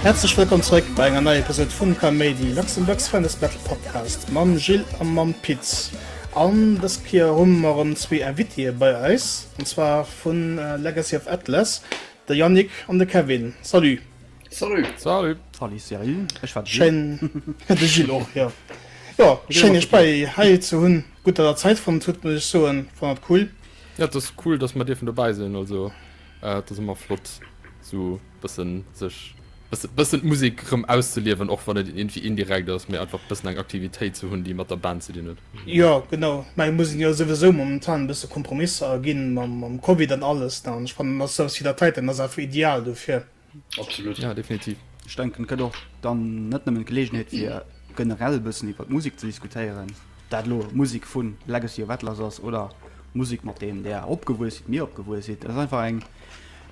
Häerzlech wëllkomm zréck bei enger neier Episode vum Kaméidi, Luxembourg's funnest battle podcast, mam Jill a mam Pit. An dës Kéier hu mer erëm zwee Invitée bei eis, an zwar vu Legacy of Atlas, de Yannick an de Kevin. Salut! Salut! Salut! Salut Cyril, ech war de Jill. Schéin, de Jill och, jo. Jo, schéin iech bei hei ze hunn. Gutt datt der Zäit fonnt hutt, muss ech soen. Fannen dat cool. Ja, et ass cool, datt mer dierfen dobäi sinn. Also, et ass ëmmer flott, esou Bëssen sech bëssen d'Musek rëm auszeliewen, och wann et iergendwéi indirekt ass, mee einfach bëssen eng Aktivitéit ze hunn, déi mat der Band ze dinn huet. Jo, genau. Ech mengen, mir sinn jo souwisou momentan e bësse Kompromisser aginn, mam Covid an alles, ne? An ech fannen, dass souwes wéi dat heiten ass einfach ideal dofir. Absolut. Jo, definitiv. Ech denken, et gëtt och dann net nëmmen d'Geleegenheet, fir generell e bëssen iwwert Musek ze diskutéieren, ob dat elo Musek vu Legacy of Atlas ass oder Musek, mat deem Der opgewuess sidd, mir opgewuess sinn. Et ass einfach eng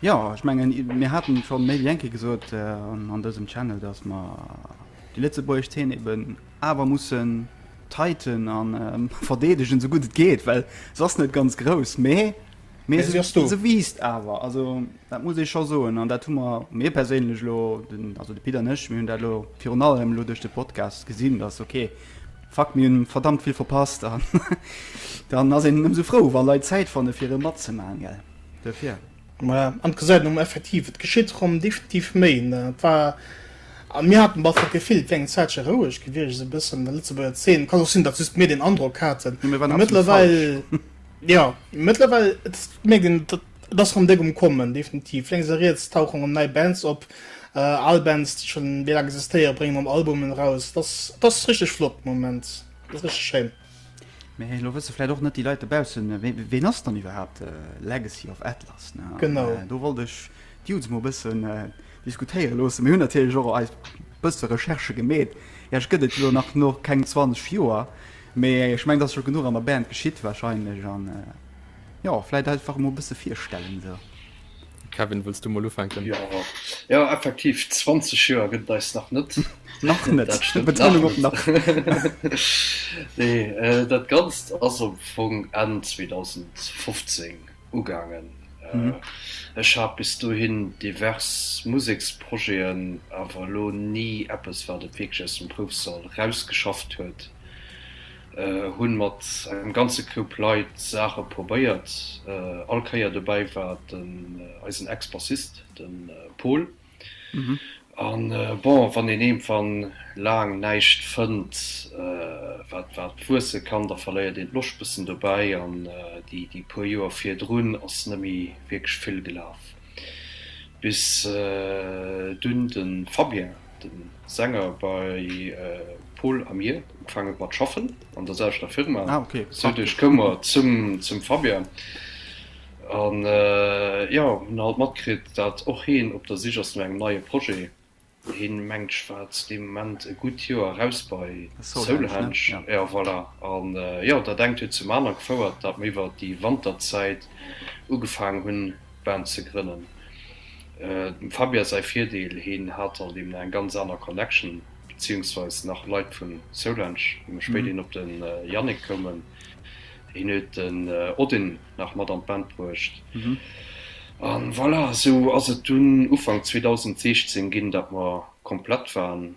Jo, ech mengen, mir haten schon méi wéi eng Kéier gesot an dësem Channel, dass mer déi lëtzebuergesch Zeen eben awer mussen tighten a verdeedegen esou gutt et geet, well se ass net ganz grouss, mee Mais se ass do. Se wiisst awer, also dat muss ee scho soen an dat hu mer, mir perséinlech elo, also de Pit an ech, mir hunn dat elo virun allem elo duerch de Podcast gesinn, dass ok, fuck, mir hunn verdammt vill verpasst an dann ass een ëmsou frou, wa Leit Zäit fanne fir e matzemaachen, gell. duerfir. Maja, an et gesäit een um effektiv, et geschitt erëm definitiv méi. Et war, a mir haten bal d'Gefill, et wär eng Zäitche roueg gewiescht, esou e bëssen an der Lëtzebuerger Zeen. Et kann och sinn, datt just mir deen Androck haten. Mee mir waren absolut falsch. Jo, mee mëttlerweil, et mierkt een, et ass erëm déck um Kommen, definitiv. Lénks a riets tauchen erëm nei Bands op, al Bands, déi schonn méi laang existéieren, bréngen erëm Albumen eraus. Et ass, et ass richteg flott de Moment, et ass richteg schéin. Mä elo wësse vläit och net déi Leit dobaussen, ween ass dann iwwerhaapt Legacy of Atlas? Genau. Do wollt ech d'Judds mol e bëssen diskutéiere loosse. Mir hunn natierlech och eis bësse Recherche gemeet. Iech gëtt et jo nach no keng 20 Joer, mä ech meng, dass scho genuch an der Band geschitt wahrscheinlech. An jo, vläit einfach emol e bësse virstellen esou. Kevin wëlls du mol ufänken? Ja, ja effektiv 20 Joer gëtt eis nach net nach net dat, stimmt, nach net. Nach. nee, äh, dat ganzt ass op vung en 2015 ugangen mhm. äh, ech hab bis du hin divers museksprojeten awer lo nie eppes wat et wirklich aus dem prouf soll rausgeschafft huet hunn mat engem ganze Koup Leit Saache probéiert. All Kéier dobäi war den eisen Ex-Bassist, den Pol. An bon, wann een iergendwann laang näischt fënnt wat wat wuesse kann, da verléiert een d'Loscht bëssen dobäi. An déi puer Joer virdrun ass nëmmi wierklech vill gelaf, bis dunn de Fabien De Sänger bei Pol a mir ugefaange mat schaffen an der selwechter Firma. Ah, okay. So duerch koum mer zum, zum Fabian. An äh, jo, hunn halt matkritt, datt och heen op der Sich ass no engem neie Projet. Heen mengt ech war zu deem Moment e gutt Joer eraus bei Soulhenge. Ja. ja, voilà. An äh, jo, dat engt huet zum anere gefouert, datt mer iwwert déi Wanterzäit ugefaangen hunn, Band ze grënnen. Dem Fabia säi Virdeel, hien hat dann deemno eng ganz aner Connection, beziehungsweise nach Leit vun Soulange, wou mer spéider hin op de Yannick koumen. Hien huet den Odin nach mat an d'Band bruecht. A voilà, esou ass et dunn Ufank 2016 ginn, datt mer komplett waren.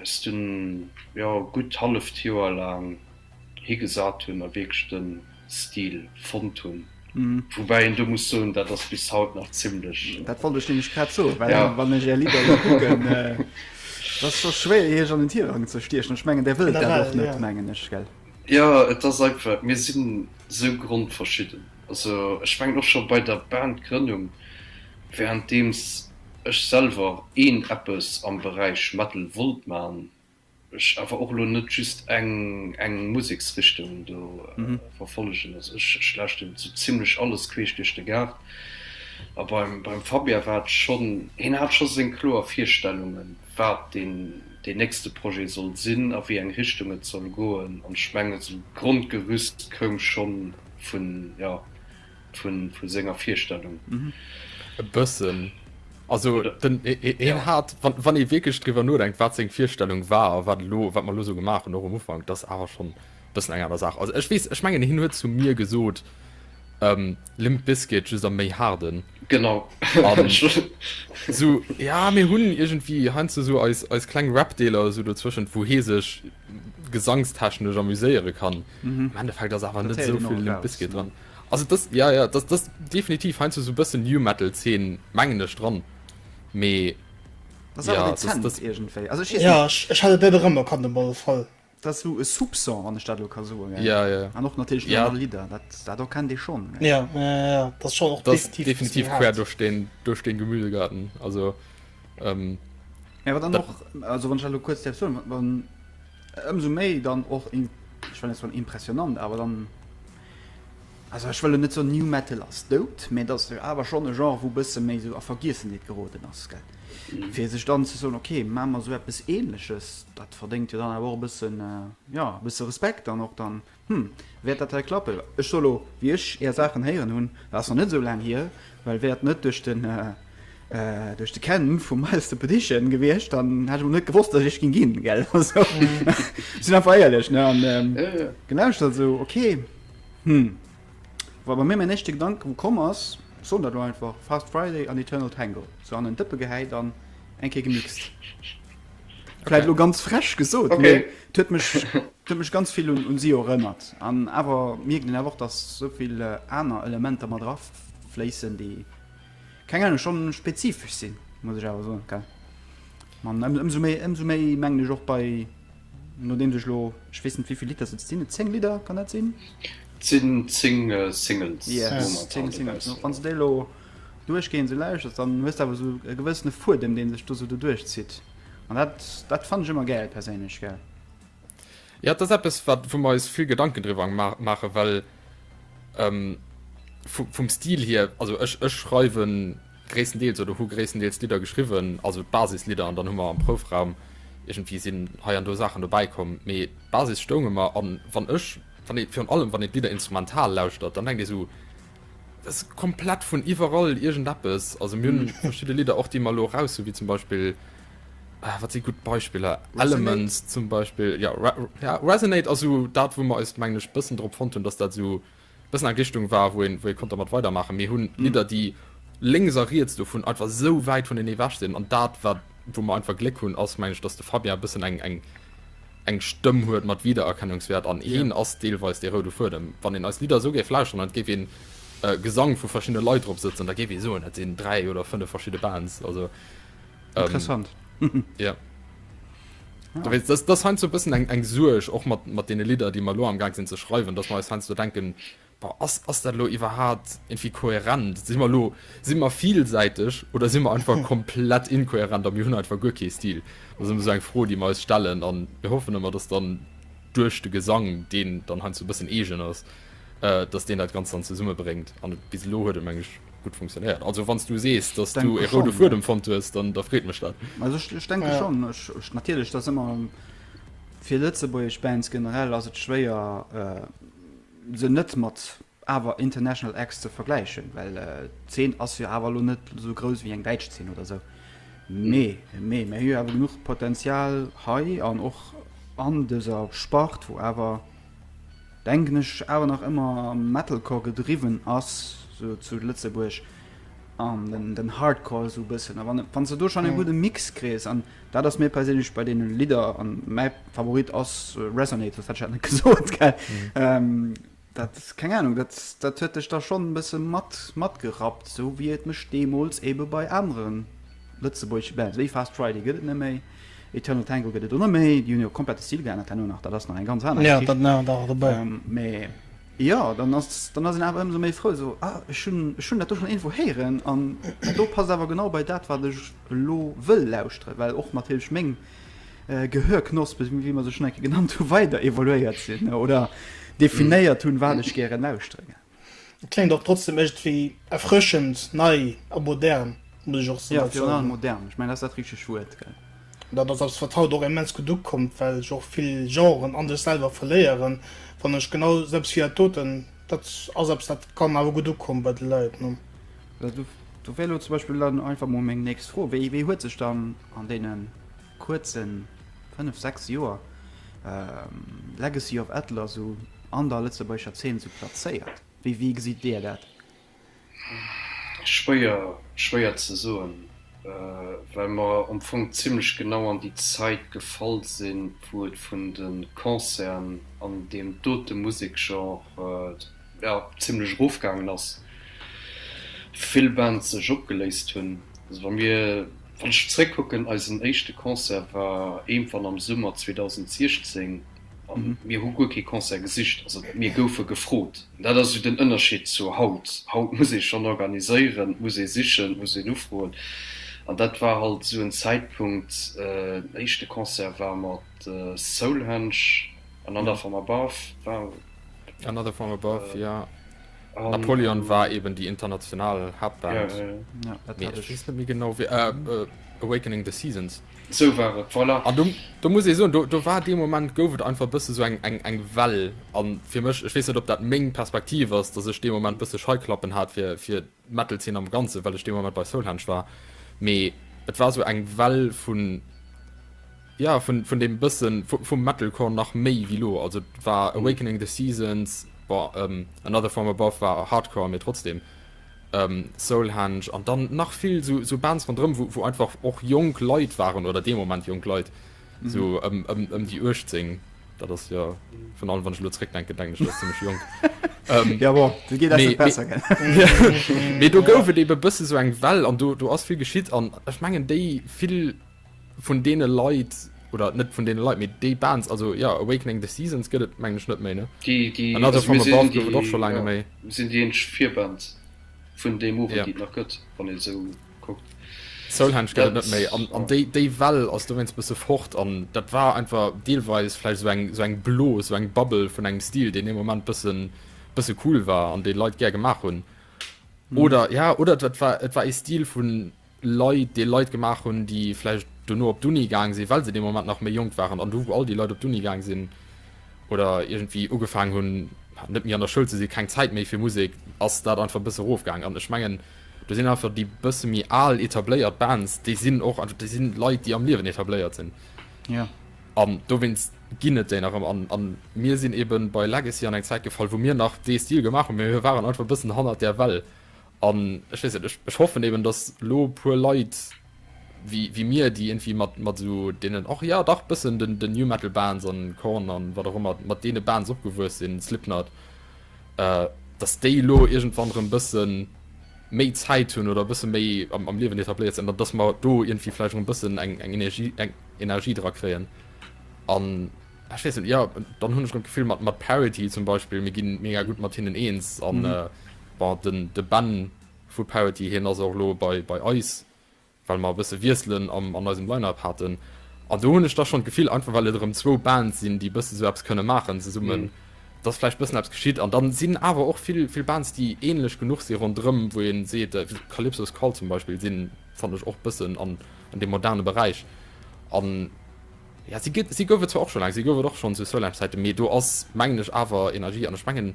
eis dunn jo gutt halleft Joer laang higesat hunn a wierklech de Stil fonnt hunn. Woubäi een do muss soen, dat ass bis haut nach zimlech. Dat wollt ech nämlech grad soen, well wann ech Är Lidder elo kucken, et ass scho schwéier Iech an den Tirang ze stiechen. Ech mengen där wëllt dat och net, mengen ech, gell? Jo, et ass einfach, mir sinn esou grondverschidden. Also ech mengen och scho bei der Bandgrënnung, währenddeems ech selwer een eppes am Beräich Metal wollt man, ech awer och elo net just eng eng Museksrichtung do verfollegen. Also ech lauschten sou zimlech alles queesch duerch de Gaart. A beim beim Fabien war et schonn, hien hat scho seng kloer Virstellungen, wat deen deen nächste Projet soll sinn a wéi eng Richtung et soll goen. An ech mengen sou d'Grondgerüst koum schonn vun ja vun vun senger virstellung e bëssen also den e, e, e ja. hat wann, wann e wiekecht driwer nodenkt wat seg virstellung war wat lo wat man lo so gemacht hun och um ufang das awer schon bëssen enger der saach also ech wees ech mengen hin huet zu mir gesot ähm, Limp Bizkit just am méi harden. Genau so, ja mir hunn irgendwie han ze so als, als kleng Rapdeler so dozwischen wo he sech gesangstechnesch amüséiere kann mhm. Endeffekt ass awer net souvill Limp Bizkit dran. Also das ja ja das das definitiv hein so bëssen New Metal 10 mengeneg dran mee das ja, das, das, das irgendwie also ich, ja, ich, ich hatte der Rëmmer kann dem Ball voll das so e Subson an der Stadt kann so ja ja, ja. an noch natürlich ja. Lieder das da kann de schon ja. Ja, ja, ja. das schon auch das definitiv, definitiv quer durch den durch den Gemüsegarten also Ähm, ja, aber dann noch, also wenn ich nur kurz dazu, dann umso mehr dann auch, in, ich meine, es war impressionant, aber dann, also ich will nicht so New Metal als dood, mir das ist aber schon ein Genre, wo ein bisschen mehr so auf Vergessenheit geraten ist, gell. Mhm. Für sich dann zu sagen, okay, machen wir so etwas Ähnliches, das verdient ja dann aber auch ein bisschen, äh, ja, ein bisschen Respekt dann auch dann. Äh, Hm, wäert dat hei klappen? Ech soe lo, wéi ech är Saachen héieren hunn, dat ass nach net esou laang hier, well wär et net duerch de, duerch de Ken vum Miles the Petition gewiescht, dann hätt ech och net gewosst, dass ech ginn ginn, gell? Also, sinn einfach éierlech, ne? An gelauschtert, esou, ok, hm, wa bei mir mäin éischte Gedanke wou komm ass, ech soen dat lo einfach, Fast Friday an Eternal Tango, sou an en Dëppe gehäit an eng Kéier gemixt. Vielleicht lo ganz fresch gesot okay. huet mech huet mech ganz vill un, un si erënnert. An awer mirgen den awer dass sovill äh, aner Elementer mat drauf fléissen, déi keng Ahnung schon spezifisch sinn, muss ich awer so okay. Man ëmso méi ëmso méi mengen ech och bei no deem sech lo ich wees net wieviel Liter sinn 10 Liter kann net sinn? Sinn 10 äh, Singles. Yes, 10 Singles. Wann se déi lo duerchgehend esou lauschers, dann hues de awer esou e gewëssene Fuedem, dee sech do esou doduerch zitt. An dat, dat fannen ech ëmmer gäil perséinlech, gell. Jo, dat ass eppes, wat, wou mer eis vill Gedanken driwwer maachen, well vum Stil hier, also ech, ech schreiwe gréisstendeels oder hu gréisstendeels Lidder geschriwwen, also d'Basislieder, an dann hu mer am Proufraum iergendwéi sinn hei an do Saachen dobäi komm, mee d'Basis stoung ëmmer. An wann ech, wann ee, virun allem wann ee d'Lidder instrumental lauschtert, dann denkt ee sou, Ass komplett vun iwwerall irgend eppes. Also mir hunn verschidde Lidder och déi mer elo eraus hunn, wéi zum Beispill ah, wat si gutt Beispiller? Elements zum Beispiel ja, Re ja Resonate ass esou dat, wou mer eis mengen ech bëssen drop fonnt hunn, datt dat esou bëssen eng Richtung war, wou een wou ee konnt dermat weidermaachen. Mir hunn Lidder, déi lénks a riets dovun einfach esou wäit vunenee ewech sinn an dat wat wou mer einfach Gléck hunn ass mengen ech, datt de Fabien e bëssen eng eng eng Stëmm huet mat Wiedererkennungswäert an heen ass deelweis dee roude Fuedem. Wann een eis Lidder esou géif lauschteren an et géif een Gesang vu verschiddene Leit drop sëtzen, da géif ee soen, dat sinn dräi oder fënnef verschidde Bands. Also Interessant. Jo. Du weess, dat ass heiansdo e bëssen eng Suerg och mat deene Lidder, déi mer elo amgaang sinn ze schreiwen, dass mer eis heiansdo denken, Ass ass dat elo iwwerhaapt irgendwie kohärent? Sinn mer elo, sinn mer vielsäiteg oder sinn mer einfach komplett inkohärent a mir hunn einfach guer kee Stil? Dat ass ëmmer esou eng Fro déi mer eis stellen an mir hoffen ëmmer dass dann duerch de Gesang deen dann heiansdo e bëssen eegen ass, dass deen dat Ganzt dann zesumme bréngt an bis elo huet et meng ech gutt funktionéiert. Also wann s du sees dass du ee roude Fuedem fonnt hues dann da freet mech dat. Also ech ech denke schonn. Ech ech natierlech et ass ëmmer fir lëtzebuergesch Bands generell ass et schwéier, se net mat awer International Acts ze vergläichen, well d'Zeen ass jo awer elo net esou grouss wéi eng däitsch Zeen oder esou. Mee, mee mer hu awer genuch Potenzial hei an och an dëser Spart, wou awer, denken ech, awer nach ëmmer Metalcore gedriwwen ass esou zu Lëtzebuerg an den Hardcore esou e bëssen. A wann, wann s de do schonn e gudde Mix kriss an Daat ass mir perséinlech bei deenen Lidder, an mäi Favorit ass Resonate, soss hätt ech dat net gesoot, gell? Daat, keng Ahnung, daat daat huet dech da schon en bëssen mat matgerappt, esou wéi et mech deemols eben bei aneren lëtzebuergeschen Bands, wéi Fast Friday gëtt et net méi, Eternal Tango gëtt et o net méi, déi hunn jo komplett de Stil geännert herno nach, daat ass nach eng ganz aner Geschicht, mee. Jo, dann ass dann ass een awer ëmsou méi frou esou, ah, ech hunn ech hunn dat do schonn iergendwou héieren an dat do passt awer genau bei dat, wat ech elo wëll lauschteren, well och natierlech meng Gehörknospe, wéi mer se schonn eng Kéier genannt hunn, weider evoluéiert sinn oder definéiert hunn, wat ech gären lauschtere géif. Et kléngt och trotzdem iergendwéi erfrëschend nei a modern, muss ech och soen. Jo, virun allem modern, ech mengen dat ass dat richtegt Wuert, gell. Dat ass eppes, wat haut och immens gutt ukommt, well ech och vill Genren an dech selwer verléieren, fannen ech genau eppes wéi dat doten. Dat ass eppes, dat kann awer gutt ukommen bei de Leit, ne? Do wär elo zum Beispill dann einfach mol meng nächst Fro, Wéi huet sech dann an deene kuerze fënnef, sechs Joer Legacy of Atlas esou an der lëtzebuergescher Zeen esou plazéiert? Wéi gesitt Dir dat? Schwéier, schwéier ze soen, well mer am Fong zimlech genau an déi Zait gefall sin, wou et vun de Concerten an deem dote Musekgenre, jo, zimlech erofgaangen as, vill Bands sech opgeléist hun. Also wa mir, wann ech zeréckkucken, eisen éischte Concert war éimfern am Summer 2016. A mir hu guer kee Concert gesicht, also mir goufe gefrot. Dat ass esou den Ënnerscheed zu haut. Haut muss ee schonn organiséieren, muss ee sichen, muss een ufroen. An dat war halt esou en Zäitpunkt, den éischte Concert war mat Soulhenge, Another From Above war. Another From Above, jo. Napoleon war eeben déi international Haaptband. Mee ech weess net méi genau wéi. Awakening the Seasons. Sou war et, voilà. An do, do muss ee soen, do, do war dee Moment, gouf et einfach e bësse sou eng, eng, eng Well. A fir mech, ech weess net, ob dat meng Perspektiv ass, datt ech dee Moment e bësse Scheiklappen hat fir, fir d'Metal-Zeen am Ganzen, well ech dee Moment bei Soulhenge war. Mee et war sou eng Well vun, ja, vun, vun deem bësse vu, vum Metalcore nach méi wéi lo. Also et war Awakening the Seasons, bon, ähm, Another From Above war Hardcore, mee trotzdeem, Soulhenge an dann nach vill sou Bands ronderëm, wou einfach och jonk Leit waren oder dee Moment jonk Leit, sou ëm déi 18. Dat ass jo, virun allem wann ech elo zeréckdenken, denken ech dat ass zimmlech jonk. Jo bon, dat geet eis net besser, gell. Mee do gouf et ebe e bësse sou eng Well an do ass vill geschitt an ech mengen déi vill. Vun deene Leit, oder net vun deene Leit, mee déi Bands, also jo, Awakening the Seasons gëtt et mengen ech net méi, ne? Another From Above gouf et och scho laang net méi. Déi, déi, mir sinn déi eenzeg Virband vun deem Owend, déi et nach gëtt, wann ee sou kuckt. Soulhenge gëtt et net méi, an déi, déi Well ass dowéinst bësse fort, an dat war einfach deelweis vläicht sou eng, sou eng Blos, sou eng Bubble vun engem Stil, deen dee Moment bësse, bësse cool war an dee Leit gär gemaach hunn. Oder, ja, oder et war, et war ee Stil vun. Leit, déi Leit gemaach hunn, déi vläicht dono op d'Uni gaang sinn, well se dee Moment nach méi jonk waren, an du, wou all déi Leit op d'Uni gaang sinn oder iergendwéi ugefaangen hunn, net méi an der Schoul ze sinn, keng Zäit méi fir Musek, ass dat einfach e bësse erofgaangen. An ech mengen, do sinn einfach déi bësse méi al etabléiert Bands, déi sinn och einfach, déi si Leit, déi am Liewen etabléiert sinn. Jo. An dowéinst ginn et déi nach ëm. An, an mir sinn eeben bei Legacy an eng Zäit gefall, wou mir nach dee Stil gemaach hunn, mee mir waren einfach e bëssen hannert der Well. An ech weess net, ech, ech hoffen eben, dass elo e puer Leit wéi, wéi mir, déi irgendwie mat, mat esou deenen och, jo dach, bëssen den, den New Metal Bands an Korn an wat och ëmmer, mat deene Bands opgewuess sinn, Slipknot, äh, dass déi elo iergendwann erëm bëssen méi Zäit hunn oder bësse méi am, am Liewen etabléiert sinn, an dass mer do irgendwie vläicht erëm bëssen eng, eng Energie, eng Energie dra kréien an. ech weess net, jo, dann hunn ech rëm d'Gefill mat mat Parity zum Beispill, mir ginn mega gutt mat hinnen eens an mhm. äh, war den de Ben vu Parity hien ass och lo bei bei eis, well mer bësse wieselen am an eisem Line-up haten. An do hunn ech da schon d'Gefill einfach well et rëm zwou Bands sinn, déi bësse sou eppes kënne maachen zesummen. Mhm dass vielleicht bisschen abs geschieht an dann sind aber auch viel viel Bands die ähnlich genug sie run drin wo ihn seht äh, Calypsos call zum Beispiel sind fand ich auch bisschen an an dem modernen Bereich an Ja, si gëtt, si gouf et zwar och scho laang, si gouf et och schonn zu Soulheim-Zäiten, mee do ass, mengen ech, awer Energie. An ech mengen,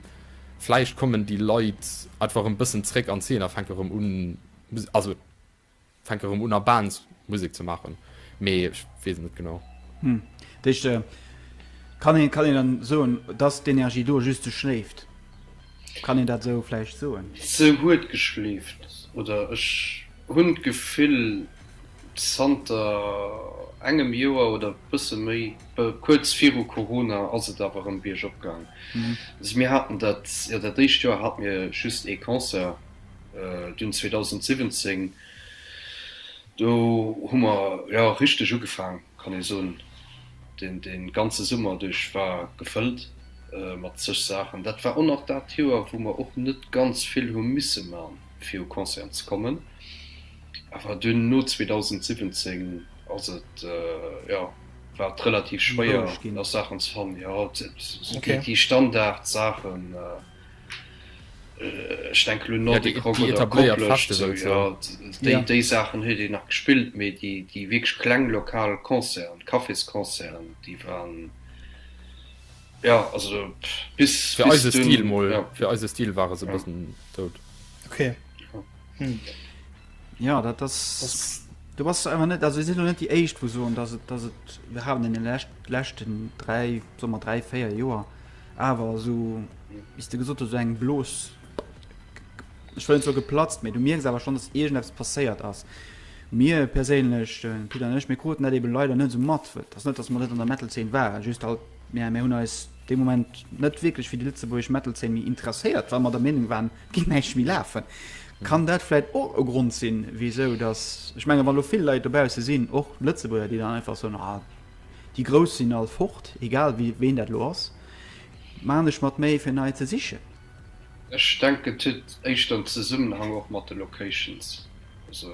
vläicht kommen déi Leit einfach erëm e bëssen zréck an d'Zeen a fänke erëm un, Musek, also fänke erëm un a Bands Musek ze maachen, mee ech weess et net genau. Hm, dat heescht, kann een, kann een dann soen, dass d'Energie do just sou schléift? Kann een dat sou vläicht soen? Se huet geschleeft, oder ech hunn d'Gefill. Zanter engem Joer oder bësse méi, kuerz viru Corona ass et awer erëm biergop gaang. Also mir haten dat, jo dat éischt Joer hate mir just ee Concert, dunn 2017, do hu mer jo richteg ugefaang, kann ee soen. Deen dee ganze Summer duerch war gefëllt mat zeg Saachen. Dat war och nach dat Joer wou mer och net ganz vill hu misse man fir u Concerten ze kommen. Awer dunn no 2017 ass et jo war et relativ schwéier nach Saachen ze fannen. Jo déi Standard Saachen ech denke lo Nordic Rock oder Koplescht déi Saachen huet een nach gespillt, mee déi wierklech kleng lokal Concerten, Cafésconcerten déi waren jo also bis. Fir eise Stil mol, fir eise Stil ware se e bëssen dout. hm. ja dat das, das du was einfach net also sind net die echt wo so dass das it, wir haben in den letzten, letzten drei sommer drei feier joer aber so ist du gesucht so eng blos ich will so geplatzt mir du mir aber schon das irgendwas passeiert as mir perlech äh, wieder nicht mir kruten eben leider net so mat wird das net dass man net an der metal 10 war just halt mehr mehr hun als dem moment net wirklich für die letzte wo ich metal 10 mir interessiert weil man der meinung waren die geet näischt méi lafen. Kann dat vläit och e Grond sinn, wisou dass, ech menge wann elo vill Leit dobausse sinn, och Lëtzebuerger, déi dann einfach soen, ah, déi Grouss sinn all fort, egal wéi, ween dat elo ass, maachen ech mer d'Méi fir nei ze sichen. Ech denken et huet éischter en Zesummenhang och mat de Locations, also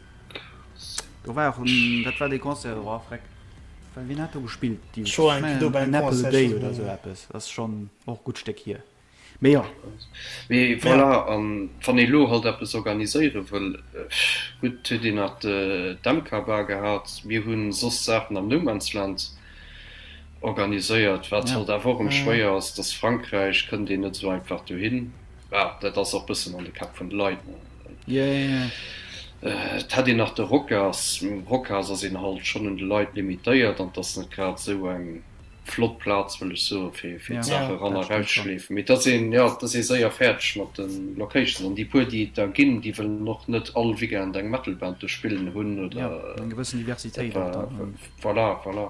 Do war och en, dat war dee Concert do, oh freck, well wien hat do gespillt? Déi Scho eng do bei engem Apple a Concert Day oder sou schonn. eppes, ass schonn och e gutt Stéck hier, mee jo. Mee voilà, an wann ee lo halt eppes organiséiere wëll, gutt, huet een nach d'MK Bar gehat, mir hu soss Saachen am No Man's Land organiséiert, wat halt awer och ëm schwéier ass, dass Frankräich kënnt een net sou einfach dohin, ah, dat ass och bëssen an de Käpp vun de Leit. Et hätt een nach de Rockers. Mam Rockhaus ass een halt schon un de Leit limitéiert an 't ass net grad esou eng flott Plaz, wëll ech soen, fir fir d'Sach eran a rausschleefen. Mee 't ass een, jo, 't ass ee séier fäerdeg mat den Locations. An déi puer, déi et der ginn, déi wëllen och net all Weekend eng Metal-Band do spillen hunn oder voilà, voilà.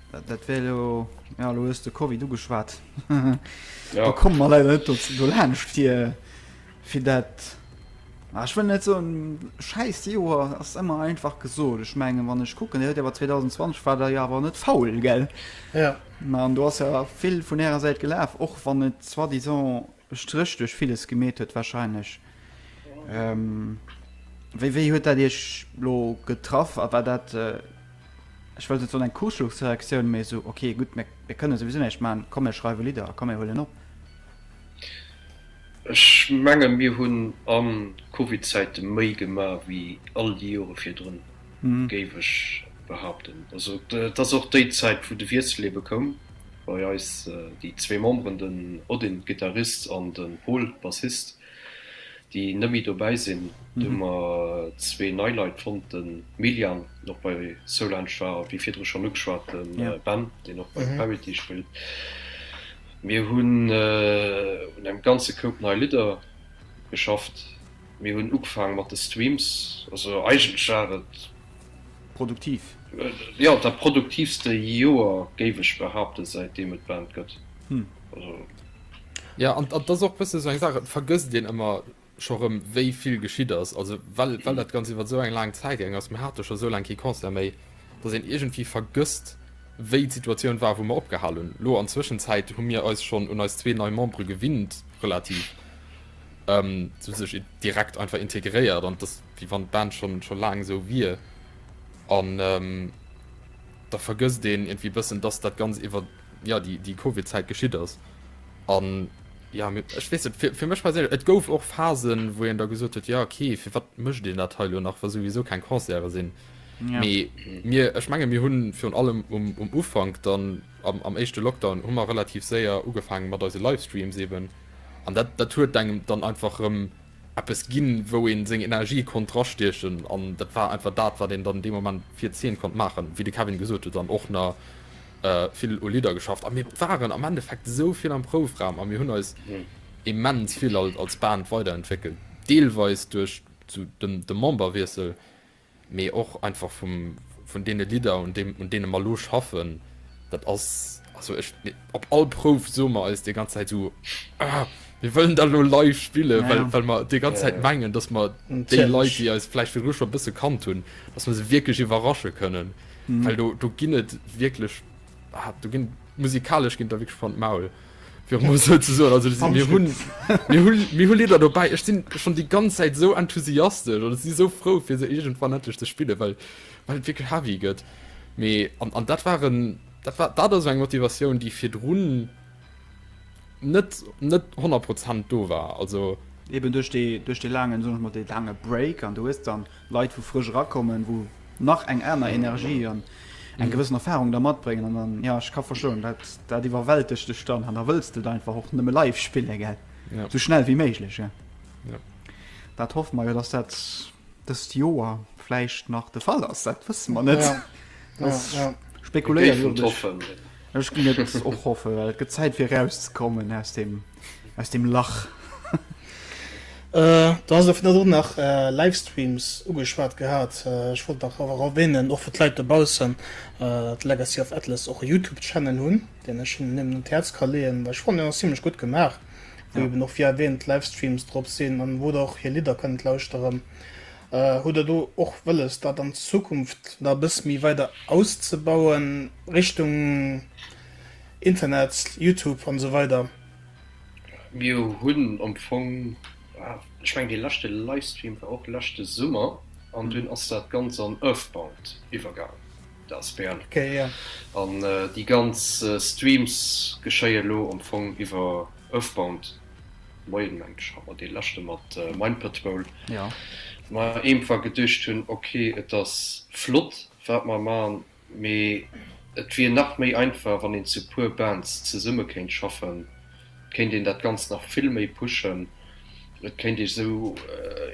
Dat wär elo, ja elo hues de Covid ugeschwat, do komme mer leider net do laanscht fir fir dat. Ah, ich will net so scheiß Joer ass immer einfach gesot. Ich menge wann ich kucken hört aber 2020 war der ja aber net faul gell ja. Na du hast ja vill vun ärer Säit gelaf och wann et soi disant e Stréch duerch villes gemeet huet wahrscheinlech. Wéi wéi huet dat iech lo getraff a war dat, ech wëllt net soen eng Kuschelchsreaktioun, mee esou ok gutt mir mir kënne souwisou näischt maachen, komm mir schreiwe Lidder a komm mir huelen op? Ech menge mir hunn a Covidzäite méi gemaach wéi all déi Jore virdrun. géif ech behaapten. Also et ass och déi Zäit wou de Wiessel ebe koum bei eis, déi zwee Memberen, den Odin, Gittarist, an de Pol, Bassist, déi net méi dobäi sinn. Du hu mer zwee nei Leit fonnt, de Miljan, deen och bei Soulange war, a wéi virdru schonn ugeschwat, de Ben, deen och bei Parity spillt. Mir hunn un engem ganze Koup nei Lidder geschafft. Mir hunn ugefaange mat de Streams, also eigentlech war et. Produktiv. Jo, dat produktivste Joer géif ech behaapten, säitdeem et d'Band gëtt. Also. Jo, an dat ass och e bësse sou eng Saach, et vergësst een ëmmer scho rëm, wéi vill geschitt ass. Also well dat Ganzt iwwer sou eng laang Zäit gaangen ass, mir hate scho sou laang kee Concert méi, datt een iergendwéi vergësst, wéi d'Situatioun war, wou mer opgehal hunn. Lo an Zwëschenzäit hu mir eis schonn un eis zwee nei Membere gewinnt, relativ. ähm, zu sech direkt einfach integréiert an das wie wann Band schon schon lang so wie an ähm, da vergësst den irgendwie bëssen dass dat ganz iwwer ja die die CoVI Zeit geschitt ass an ja mit ich weiß, für, für mich persönlich et gouf och Phasen wo en da gesucht huet ja okay fir wat mëcht den dat heilo nach war sowieso kein Konzerre sinn ja. mir ech menge mir hunn virun allem um, um Ufang dann Am éischte Lockdown hu mer relativ séier ugefaange mat eise Livestreams eeben an dat dat huet engem dann einfach erëm eppes ginn, wou een seng Energie konnt drastiechen an dat war einfach dat, wat een dann dee Moment fir d'Zeen konnt maachen. Wéi de Kevin gesot huet, dann och na vill u Lidder geschafft a mir waren am Endeffekt esou vill am Proufraum a mir hunn eis immens vill als Band weiderentwéckelt, deelweis duerch de Memberwiessel, mee och einfach vum vun deene Lidder un deem un deene mer elo schaffen, dat ass also ech op all Prouf soe mer eis déi ganz Zäit esou ah mir wëllen dat elo live spillen, well well mer déi ganz Zäit mengen, datt mer déi Leit déi eis vläicht virdru scho e bësse kannt hunn, datt mer se wierklech iwwerrasche kënnen, well do do ginn et wierklech. ah, du gin musikalisch gin der wirklich von maul Lider dabei ich sind schon die ganze Zeit so enthusiastisch oder sie so froh für sie irgendwann endlich zu spiele weil weil wirklich heavy geht an, an dat waren dat war da das eng Motivation die fir runen net net 100 prozent do war also eben durch die durch die langen so mal die lange break an du ist dann Leit wou frësch erakommen, wou nach eng aner Energie an eng gewëssen Erfahrung da matbréngen an dann, ja ech ka verstoen, dat dat iwwerwältegt dech dann an da wëlls de et einfach och nëmme live spille gell, sou schnell wéi méiglech gell. Dat hoffe mer jo, datt dat dëst Joer vläicht nach de Fall ass, dat wësse mer net, dat spekuléiere jo ech. Ech ginn et ech och hoffen, well et gëtt Zäit fir erauszekommen aus dem, aus dem Lach. Du has elo virdru nach Livestreams ugeschwat gehat. Ech wollt nach awer erwänen, och fir d'Leit dobaussen, datt Legacy of Atlas och e Youtube-Channel hunn, deen ech hinnen nëmmen un d'Häerz ka leeën, well ech fannen deen ass zimmlech gutt gemaach, wou eben och wéi erwäänt Livestreams drop sinn an wou der och hir Lidder kënnt lauschteren. Hutt der do och wëlles, dat an Zukunft nach e bësse méi weider auszebauen, Richtung Internet, Youtube an esou weider? Mir hunn am Fong, ech mengen dee leschte Livestream war och leschte Summer, an dunn ass dat ganz an Earthbound iwwergaangen, de asbl. An déi ganz Streams geschéie lo am Fong iwwer Earthbound. Moien mengt ech awer dee leschte mat Mind Patrol, ma eemfall geduecht hunn ok et ass flott wat mer man, mee et wier nach méi einfach wann een zu puer Bands zesumme kéint schaffen, et kéint een dat ganzt nach vill méi pushen, et kéint ee sou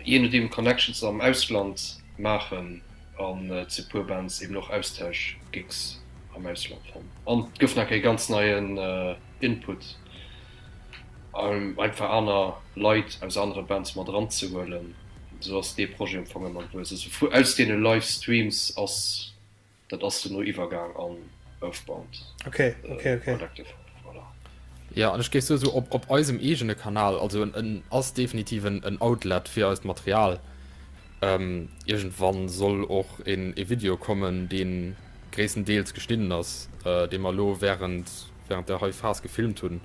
je nodeem Connections am Ausland maachen an zu puer Bands eben och Austausch Gigs am Ausland fannen an et gëff nach ee ganz neien Input. einfach aner Leit aus anere Bands mat eran ze huelen, esou ass dee Projet am Fong ëmmer gewuess, also vu aus deene Live Streams ass dat ass duerno iwwergaang an Earthbound Collective, voilà. Jo, an ech géif sou soen, op eisem eegene Kanal, also en ass definitiv en Outlet fir eist Material. Iergendwann soll och e Video kommen, dee gréisstendeels geschnidden ass, dee mer elo wärend, während der hei Phase gefilmt hunn,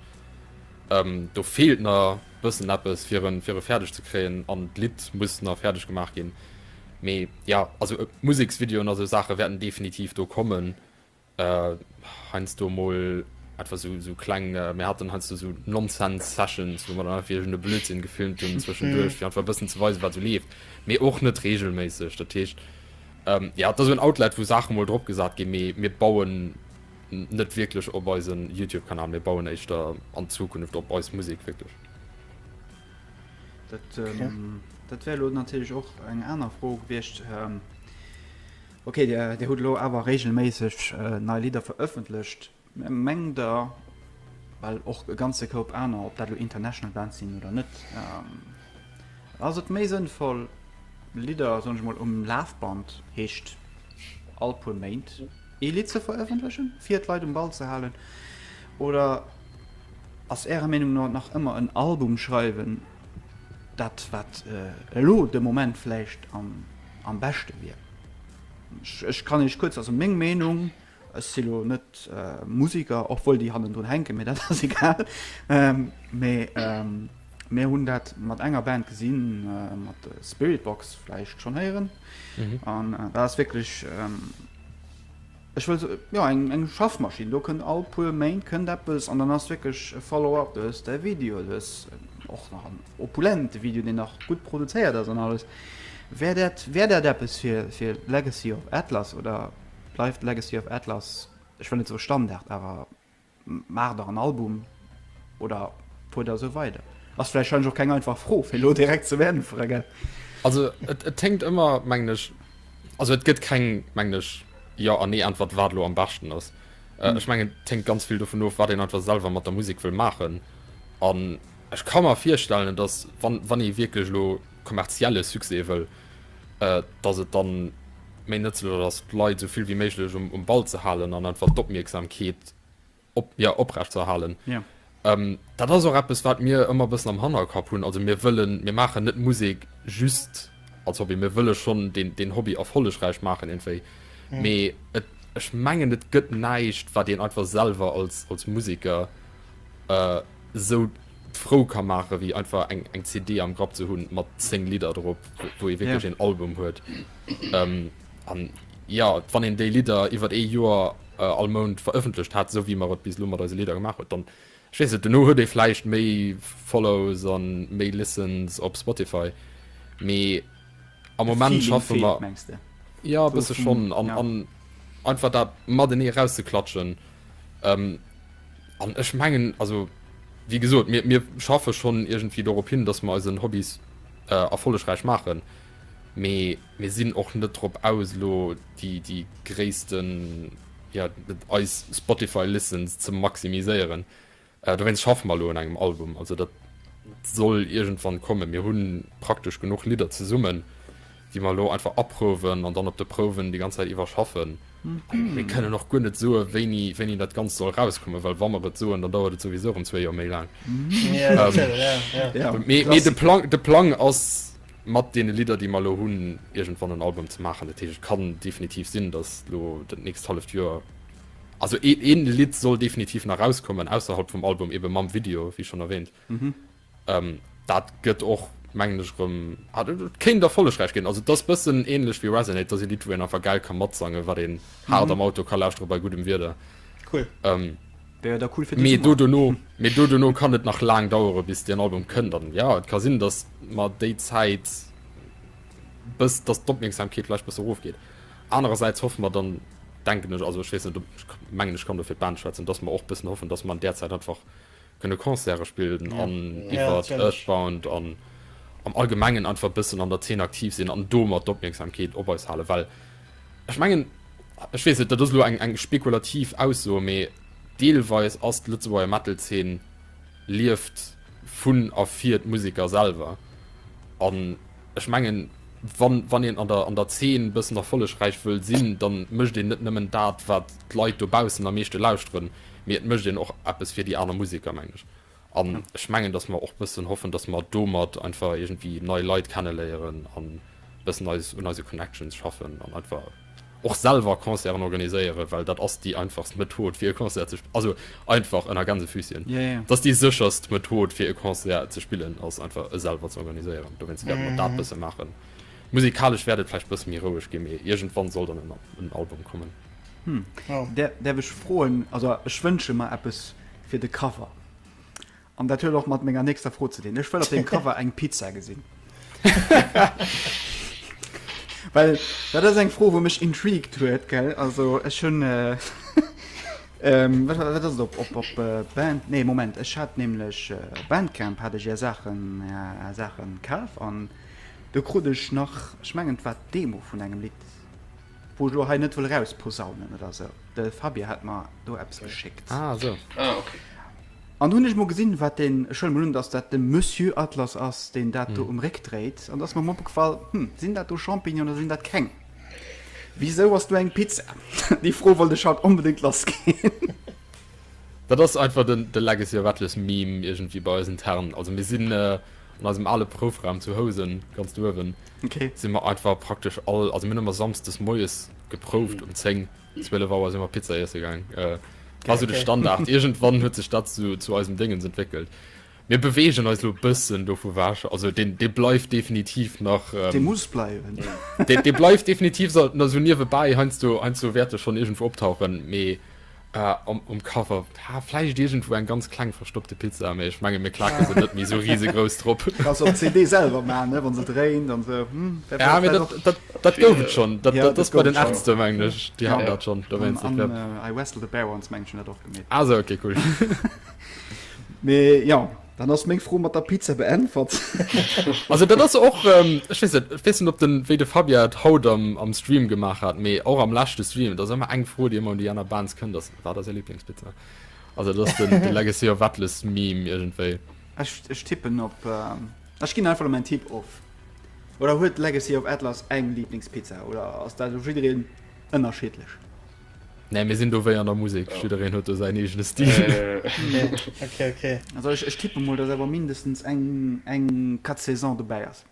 ähm, do feelt na bëssen eppes fir en fir e färdeg ze kréien an d'Lidd muss na färdeg gemaach ginn. Mee ja, also e Museksvideoen a sou Saache wäerten definitiv do kommen. Äh, heiansdo mol etwa sou sou kleng, mir haten heiansdo sou Nonsense Sessions, wou mer dann einfach iergend e Blödsinn gefilmt hunn zwëschenduerch, fir einfach e bëssen ze weisen, wat sou leeft. Mee och net regelméisseg. Dat heescht, ähm, ja, et ass sou en Outlet, wou Saache mol drop gesat ginn, mee mir bauen, net wierklech op eisen Youtube Kanal, mir bauen éischter an Zukunft op eis Musek wierklech. Dat dat wär lo natierlech och eng aner Fro gewiescht. Okay, Dir hutt elo awer regelméisseg nei Lidder verëffentlecht. Mengt Der, well och e ganze Koup aner, ob dat elo international Bands sinn oder net, ass et méi sënnvoll Lidder, soen ech mol, um Lafband, heescht all puer Méint, Ee Lidd ze verëffentlechen, fir d'Leit um Ball ze halen? Oder ass Ärer Meenung no nach ëmmer en Album schreiwen dat, wat elo de Moment vläicht am beschte wier? Ech kann Iech kuerz, also meng Meenung, ech si lo net Musiker, och wuel déi hannendrun hänken, mee dat ass egal, mee mir hunn dat mat enger Band gesinn, mat Spiritbox, vläicht schonn héieren, an dat ass wierklech. Ech wëll sou, jo eng eng Schaffmaschinn, do kënnt all puer Méint kënnt eppes an dann ass wierklech e Follow up, du hues däi Video, du hues och nach en opulente Video, deen nach gutt produzéiert ass an alles. Wär dat wär dat eppes fir fir Legacy of Atlas oder bleift Legacy of Atlas, ech wëll net soe Standard, awer Maacht der en Album oder fuert der esou weider? Ass vläicht och keng einfach Fro fir elo direkt ze beäntweren, gell? Also et hänkt ëmmer, mengen ech, also et gëtt keng, mengen ech, Jo an Nee-Äntwert, wat elo am beschten ass. Ech mengen, et hänkt ganz vill dovun of, wat een einfach selwer mat der Musek wëll maachen. An ech ka mer virstellen, dass, wann ee wierklech elo kommerzielle Succès wëll, dass et dann méi nëtzlech ass, d'Leit esou vill wéi méiglech um, um Ball ze halen an einfach d'Opmierksamkeet op, ja, oprecht ze erhalen. Ja. Ähm, dat ass och eppes, wat mir ëmmer bëssen am Hannerkapp hunn. Also mir wëllen, mir maachen net Musek just als Hobby, mir wëlle schonn den, den Hobby erfollegräich maachen entwéi. Mhm. Mee et, ech mengen, et gëtt näischt, wat een einfach selwer als, als Museker äh, sou frou ka maachen, wéi einfach eng, eng CD am Grapp ze hunn mat 10 Lidder drop, wou ee wierklech een Album huet. Ähm, an ja, wann een déi Lidder iwwer ee Joer äh, all Mount verëffentlecht hat, esou wéi mer et bis lo mat eise Lidder gemaach huet, dann ech weess net, duerno huet ee vläicht méi Follows an méi Listens op Spotify, mee. am Moment schaffe mer ja bësse schonn an an einfach dat mat en eraus ze klatschen ähm, an ech mengen also wie gesot mir mir schaffe schonn irgendwie dorop hin dass mer eisen Hobbys äh, erfollegräich maachen mee mir sinn och net drop aus lo déi déi gréissten ja eis Spotify listens ze maximiséieren Dowéinst schaffe mer elo un engem Album. Also dat soll iergendwann kommen. Mir hu praktesch genuch Lidder zesummen, déi mer elo einfach aprouwen an dann op de Prouwen déi ganz Zäit iwwer schaffen. Mir kënnen och guer net soe wéini, wéini dat Ganzt soll erauskommen, well wa mer et soen, dann dauert et souwisou erëm zwee Joer méi laang. Mee de Plang, de Plang ass, mat deene Lidder, déi mer elo hunn, iergendwann en Album ze maachen. Dat heescht, et kann definitiv sinn, datt elo dat nächst halleft Joer Also een een Lidd soll definitiv nach rauskommen ausserhalb vum Album eben mam Video wéi schon erwähnt. Mhm. Ähm, dat gëtt och mengen ech rëm ah, dat kéint erfollegräich ginn. Also dass bëssen ähnlech wéi Resonate, dass ee Lidd wou een einfach gäil kann matsangen, wat een hart am Auto kann lauschteren bei guddem Wieder. Cool. Ähm, Wär jo da cool fir mee diesen do Monat. dono mee do dono kann et nach laang dauere bis den Album kënnt. Dann ja et ka sinn, dass mat déi Zäit bës dass d'Opmierksamkeet vläicht bësse rofgeet. Anerersäits hoffe mer dann, denken ech, also ech weess net, ob, ech mengen, ech kann do fir d'Band schwätzen, dass mer och e bëssen hoffen, dass mer an där Zäit einfach kënne Concerte spillen an iwwert Earthbound an am Allgemengen einfach e bëssen an der Zeen aktiv sinn an domat d'Opmierksamkeet op eis halen. Well ech mengen, ech weess net, dat ass elo eng, eng spekulativ Ausso, mee deelweis ass d'Lëtzebuerger Metal-Zeen lieft vun a fir d'Museker selwer. An. ech mengen, wann, wann een an der, an der Zeen e bëssen erfollegräich wëll sinn, da mécht een net nëmmen dat, wat d'Leit dobaussen am meeschte lauschteren, mee et mécht een och eppes fir déi aner Museker, mengen ech. An ech mengen, datt mer och bëssen hoffen, datt mer domat einfach iergendwéi nei Leit kenneléieren an e bëssen eis un eise Connections schaffen an einfach. Och selwer Concerten organiséieren, well dat ass déi einfachst Method fir e Concert ze spillen, also einfach ënner Gänsefüßchen, et ass déi sécherst Method fir e Concert ze spillen ass einfach e selwer ze organiséieren. Dowéinst wäerte mer dat bësse maachen. Musikalesch wäert et vläicht bësse méi roueg ginn, mee iergendwann soll dann en Album kommen. Hm, däerf ech froen, also ech wënsche mer eppes fir de Cover. An dat huet och mat menger nächster Fro ze dinn. Ech wëll op dem Cover eng Pizza gesinn. Well dat ass eng Fro, wou mech intrigued huet gell. Also ech hunn äh, ähm, wat, wat ass op, op, op äh, Band nee Moment ech hat nämlech äh, Bandcamp hat ech ja Sachen ja, Sachen kaf an do krut ech nach ech mengen wat Demo vun engem Lied wo ech lo hei net wëll rausposaunen oder sou. De Fabie hat mer do Apps okay. geschéckt. Ah, so. ah, okay. An do hunn ech emol gesinn, wat deen, ech huelen emol un, dass dat de Monsieur Atlas ass, deen dat do um Réck dréit. An da ass mer emol opgefall, Hm, sinn dat do Champignonen oder sinn dat keng? Wisou ass do eng Pizza? Déi Fro wollt ech haut onbedéngt lassginn. Dat ass einfach den, de Legacy of Atlas Meme iergendwéi bei eis intern. Also mir sinn an eisem ale Proufraum zu Housen, ganz do uewen, si mer einfach praktesch all, also mir hunn ëmmer samsdes moies geprouft um 10, 12 Auer sin mer Pizza iessen gaang, war sou de Standard. Irgendwann huet sech dat sou zu eisem Déngens entwéckelt. Mir bewegen eis lo bëssen dovu weg, also deen dee bleift definitiv nach, Dee muss bleiwen. dee dee bleift definitiv sou niewebäi heiansdo heiansdo wäert e schonn irgendwou optauchen, mee am um Cover. Haa vläicht iergendwou eng ganz kleng verstoppte Pizza, mee ech menge mir klaken se net méi esou risegrouss drop. Kanns op CD selwer maan ne, wann se dréint an sou hm. Ja mee dat gouf et schon, dat ass bei den Ärzte mengen ech, déi haten dat schon. An I wrestle the bear once mengen ech hun dat och gemeet. Ah sou ok cool. Mee jo, dann ass meng Fro mat der Pizza beäntwert. Also dat ass och, ech weess net, ech weess net op den wéi de Fabia et haut am Stream gemaach hat, mee och am leschte Stream, et ass ëmmer eng Fro déi ëmmer un déi aner Bands kënnt ass, Wat ass är Liblingspizza? Also dat ass den Legacy of Atlas Meme iergendwéi. Ech, ech tippen op, ech ginn einfach elo mäin Tipp of. Oder huet Legacy of Atlas eng Liblingspizza oder ass dat u jiddereen ënnerschiddlech? Nee, mir sinn do wéi an der Musek, jiddereen huet do säin eegene Stil. Okay, okay, okay. Also ech, ech tippe mol, dass awer mindestens eng, eng Quatre Saisons dobäi ass.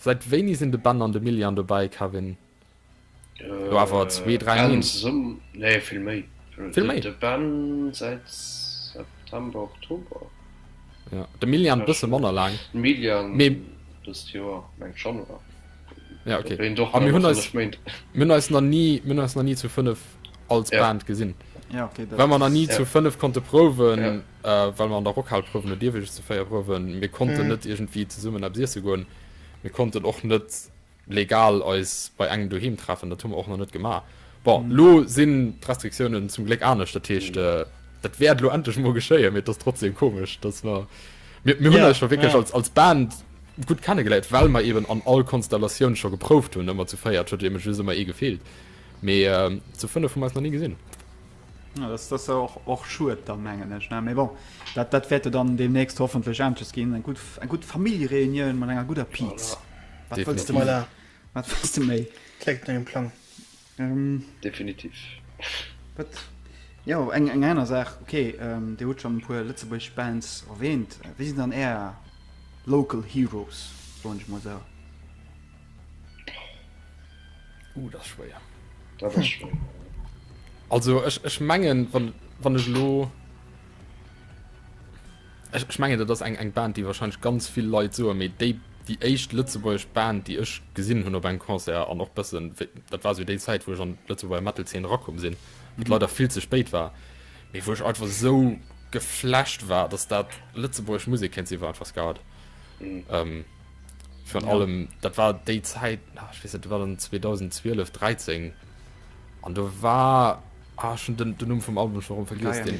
Seit wéini sinn de Ben an de Milian dobäi Kevin? Elo awer zwee, dräi Méint. Nee vill méi. Vill méi? De Ben säit September, Oktober. Jo, de Milian bësse manner laang. De Milian dëst Joer, mengt Januar. Ja ok, a mir hunn eis, mir hunn eis nach ni, mir hunn eis nach ni zu fënnef als Band gesinn. Well mer nach ni zu fënnef konnte prouwen. well mer an der Rockhal prouwen hunn ierwéiges ze féier prouwen, mir konnten net iergendwéi zesummen eppes iesse goen, mir konnten och net legal eis bei engem doheem treffen, dat hu mer och nach net gemaach. Bon, elo sinn d'Restriktiounen zum Gléck anescht, dat heescht dat wäert elo endlech emol geschéien, mee et ass trotzdem komesch, datt mer, mir hunn eis jo wierklech als als Band gutt kennegeléiert, well mer eeben an all Konstellatioun scho geprouft hunn, ëmmer zu véiert, et huet eben just ëmmer ee gefeelt, mee zu fënnef hu mer eis nach ni gesinn. Ja, das ass och, och schued dann, mengen ech, ne? Mee bon, dat, dat wäerte dann deemnächst hoffentlech aneschters ginn. Eng gutt, eng gutt Familljereunioun mat enger gudder Piz. Wat wëlls de méi? Voilà. Wat wëlls de méi? Kléngt no engem Plang. Ähm, Definitiv. wat, jo, eng, eng aner Saach, okay, ähm, Dir hutt schonn e puer lëtzebuergesch Bands erwähnt. Wie sinn dann Är Local Heroes, soen ech mol esou? Uh, das schwéier. Dat ass schwéier. Also ech, ech mengen wann, wann ech lo ech, ech mengen dat ass eng eng Band, déi wahrscheinlich ganz vill Leit soe méi déi déi éischt lëtzebuergesch Band, déi ech gesinn hunn op engem Concert an och bëssen wéi- dat war sou déi Zäit, wou ech an d'Lëtzebuerger Metal-Zeen erakomm sinn, wat leider vill ze spéit war, mee wou ech einfach sou geflasht war, dass dat lëtzebuergesch Musek kéint sinn, war einfach Skat. Ähm, Virun ja. allem dat war déi Zäit ah, weiß, dat war dann 2012 13 an do war ah, schon den, den Numm vum Album schon vergis den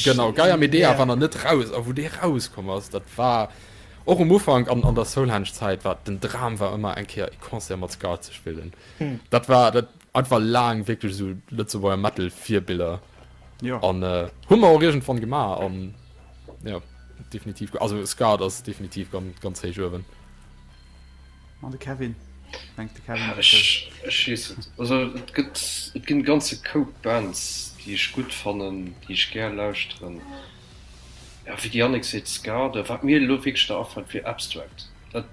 Genau Geier mit der wann er net raus a wo de rauskom ass dat war och um Ufang an an der Soulhansch Zäit wat den Dram war ëmmer eng Keer e Konzer mat Ska ze spillen. Hm. Dat war dat einfach laang wéckel so Lëtzeburger Metal Vibiller. Ja. An äh, hu mer och irgendwann gemaach an ja, definitiv also Ska ass definitiv ganz, ganz héich uewen. An de Kevin denkt de Kevin. Ja, ich, ich weiß nicht. Also et gibt es gibt ganze Cope Bands, die ich gut fannen, die ich gern lauschteren. Ja, wie die Annik seet Ska, da wat mir lo wirklich da afällt fir Abstract. Dat,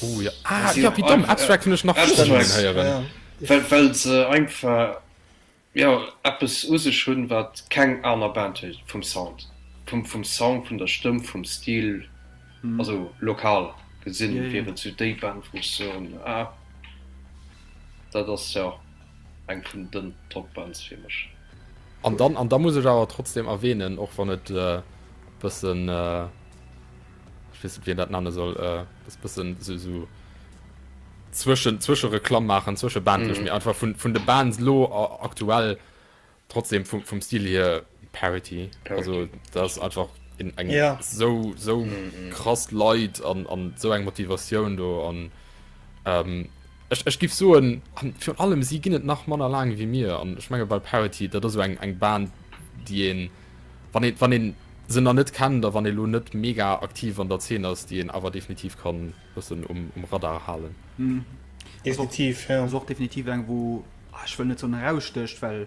oh ja, ah, ja wie dumm Abstract hunn ech nach Abstract, ja. Well, well se einfach Mee och eppes u sech hunn, wat keng aner Band huet, vum Sound, vum Song, vun der Stëmm, vum Stil. Also lokal gesinn wier et sou déi Band, wou ech soen, ah, dat ass jo eng vun den Top-Bands fir mech. An dann, an da muss ech awer trotzdeem erwähnen, och wann et e bëssen, ech weess net wéi een dat nenne soll, äh, dës bëssen sou, sou zwëschen, zwësche Reklamm maachen, zwësche Bandlech, mee einfach vun, vun de Bands lo a, aktuell trotzdem vum, vum Stil hier Parity. Also dat ass einfach in eng Ja. sou, sou krass Leit an, an sou eng Motivatioun do an ähm, ech, ech giff soen, an virun allem si ginn et nach manner laang wéi mir an ech menge bei Parity, dat ass sou eng, eng Band déi een, wann een, wann een se nach net kennt a wann ee lo net mega aktiv an der Zeen ass, déi een awer definitiv ka bëssen um Radar halen. Definitiv, jo. Ass och definitiv eng, wou, ah, ech wëll net soen erausstécht, well,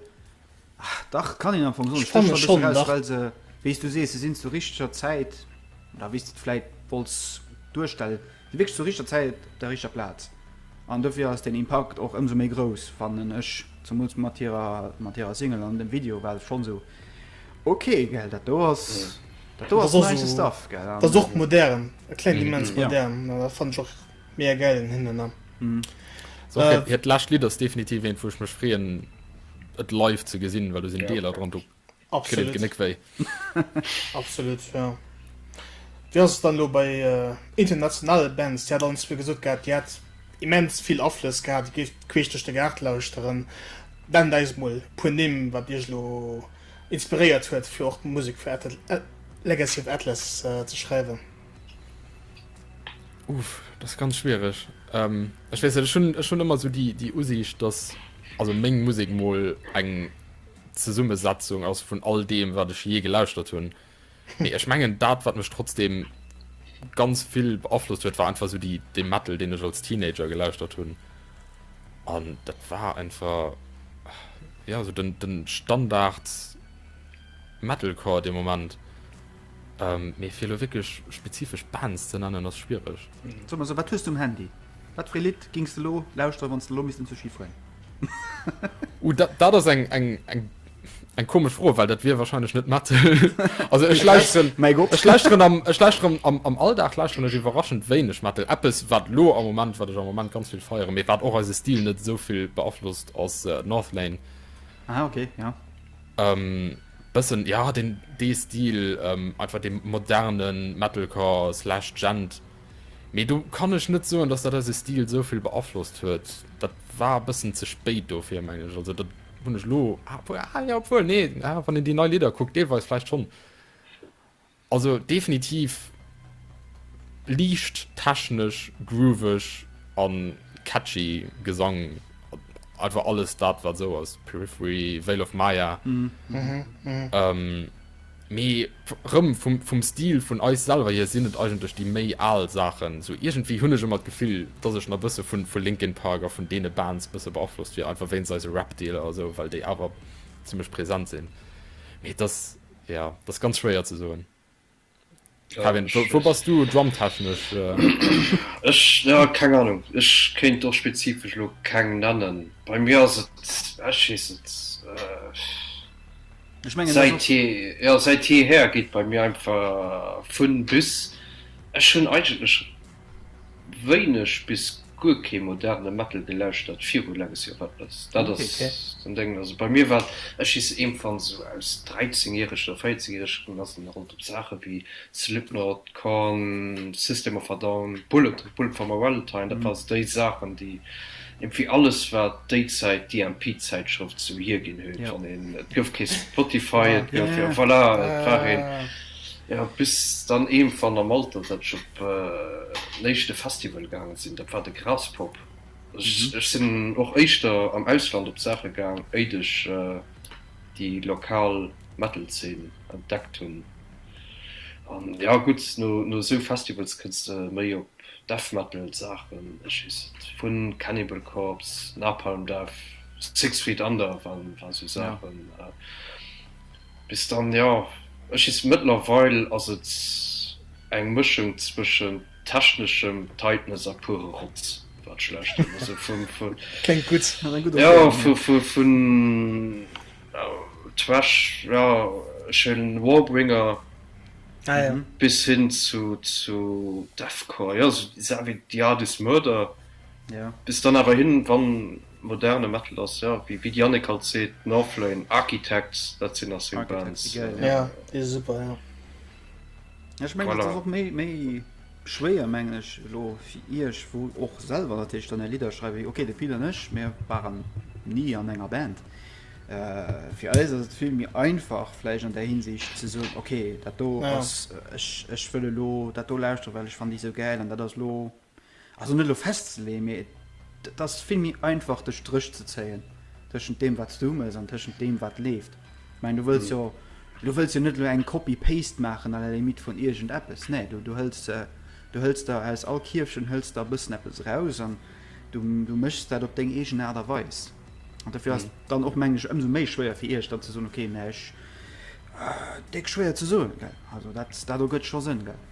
ah, dach, kann een am Fong soen, Ech fand, stécht scho e schonn, bëssen eraus, dach. well se, wéi s du sees, se sinn zur richteger Zäit, oder wéi s de et vläit wollts duerstellen, Si wierkscht zur richter Zäit op der richter Plaz an dofir ass den Impakt och ëmsou méi grouss fannen ech, zemools mat hirer mat hirer Single an dem Video war se schonn sou ok gell. Dat do ass dat do ass nice stuff gell an. Dat ass och modern, et kléngt immens modern an dat fannen ech och mega gäil un hinnen an. Hiert lescht Lidd ass definitiv eent wou ech mech freeën et live ze gesinn, well do sinn Deeler dran do Absolut. Genéck wéi. Absolut, ja. Wéi ass et dann elo bei äh, internationale Bands? Dir hat alles fir gesot gehabt, Dir hat immens vill Aflëss gehabt, Dir géift queesch duerch de Gaart lauschteren. Nennt eis mol puer Nimm, wat Iech lo inspiréiert huet, fir och Musek fir Atl äh, Legacy of Atlas äh, ze schreiwen. Uff, das ganz schwierig. Ähm, ich weiß, ich schon, ich schon immer so die, die Usicht, dass also Meng Musik mal eng Zesummesetzung ass vun all deem wat ech jee gelauschtert hunn. Mee ech mengen dat wat mech trotzdeem ganz vill beaflosst huet war einfach sou déi dee Metal deen ech als Teenager gelauschtert hunn. An dat war einfach ja sou den den Standard Metalcore dee Moment. Ähm mee fir elo wierklech spezifesch Bands ze nennen ass schwiereg. Soe mer sou, wat hues du um Handy? Wat fir ee Lidd gings de elo lauschteren wann s de elo misst en Sushi fueren? Uh, dat, dat ass eng, eng, eng, eng komesch Fro, well dat wier wahrscheinlech net Metal. also ech lauschteren, mein Gott. ech lauschteren am, ech lauschteren am, am Alldag lauschteren ech iwwerraschend wéineg Metal. Eppes wat lo am Moment, wat ech am Moment ganz vill feieren, mee wat och eise Stil net esou vill beaflosst, ass äh, Northlane. Ah, okay, ja. Ähm, bëssen, ja, den, dee Stil, ähm, einfach dee moderne Metalcore slash Djent. Mee do kann ech net soen, dass dat eise Stil esou vill beaflosst huet. Dat war e bëssen ze spéit dofir, mengen ech. Also dat hunn ech elo, ah, jo, obwuel, nee, ah, wann een déi nei Lidder kuckt, deelweis vläicht schonn. Also definitiv liicht technesch, grooveg a catchy Gesang, einfach alles dat, wat esou ass, Periphery, Veil of Maya. Mhm. Ähm. Mee rëm vum Stil vun eis selwer hier sinn et eigentlech déi méi al Saachen. Sou iergendwéi hunn ech ëmmer d'Gefill, dass ech nach bësse vun vu Linkin Park a vun deene Bands bësse beaflosst wier, einfach wéinst eise Rap-Deeler a sou, well déi awer zimmlech present sinn. Mee et ass, jo, et ass ganz schwéier ze soen. Kevin, äh, wo, wo bass du drumtechnesch? Äh? Ech ja, keng Ahnung. Ech kéint och spezifesch lo keng nennen. Bei mir ass et ech weess et. Äh, ich mein, seit je, ja, seit jeher geht bei mir einfach vun bis. Ech hunn eigentlech wéineg bis guer kee moderne Metal gelauschtert viru Legacy of Atlas. Dat ass den Déngen. Also bei mir war et, ech hiss iergendwann esou aus 13 järeg oder 14 järeg run, ass et rondëm Saache ewéi Slipknot, Korn, System of a Down, Bullet, Bullet for my Valentine, dat waren esou déi Saachen déi iergendwéi alles wat déi Zäit d'EMP-Zäitschrëft esou hierginn huet. Wann een, et gouf kee Spotify, et gouf, voilà, et war een. Jo, bis dann iergendwann am Alter, datt ech op en éischte Festival gaange sinn, dat war de Graspop. Ech sinn och éischter am Ausland op Saache gaang, éit ech déi lokal Metal-Zeen entdeckt hunn. An jo, gutt, no esou Festivals kënns de méi op Death-Metal-Saachen, ech weess et, vu Cannibal Corpse, Napalm Death, Six Feet Under waren esou Saachen. Bis dann, jo. Ech hiss, mëttlerweil ass et eng Mëschung zwëschen techneschem Tightness a pure Rotz, wat schlecht ginn ass. Kléngt gutt, ass eng gutt Ëmschreibung, jo. Jo, vun Trash, jo, ech huelen Warbringer, ah jo, bis hin zu Deathcore, jo, esou déi Saachen wéi The Ardis Murder, jo, bis dann awer hin, wann Moderne Metal ass jo, wéi de Yannick alt seet, Northlane, Architects, dat sinn nach seng Bands. Architects si gäil, ja. Ja, déi si super, jo. Ja, ech mengen, et ass och méi, méi schwéier, mengen ech, elo fir Iech, wou och selwer natierlech dann är Lidder schreift, wéi, okay, de Phil an ech, mir waren ni an enger Band. Fir eis ass et vill méi einfach vläicht an där Hinsicht ze soen, okay, dat do ass, ech, ech wëll elo dat do lauschteren, well ech fannen déi esou gäil an dat ass elo. Also net elo festzeleeën, mee et ass vill méi einfach de Stréch ze zéien tëschent deem wat s du humes an tëschent deem wat leeft. Ech mengen du wëlls jo du wëlls jo net elo eng Copy paste maachen à la limite vun iergend eppes, nee du du hëls du hëls der aus all Kierfchen hëls der e bëssen eppes eraus an du du méchs dat op deng eegen Aart a Weis. An dofir ass et dann och mengen ech ëmsou méi schwéier fir iech dann ze soen, okay mä ech, déck schwéier ze soen gell, also dat dat ergëtt scho Sënn gell.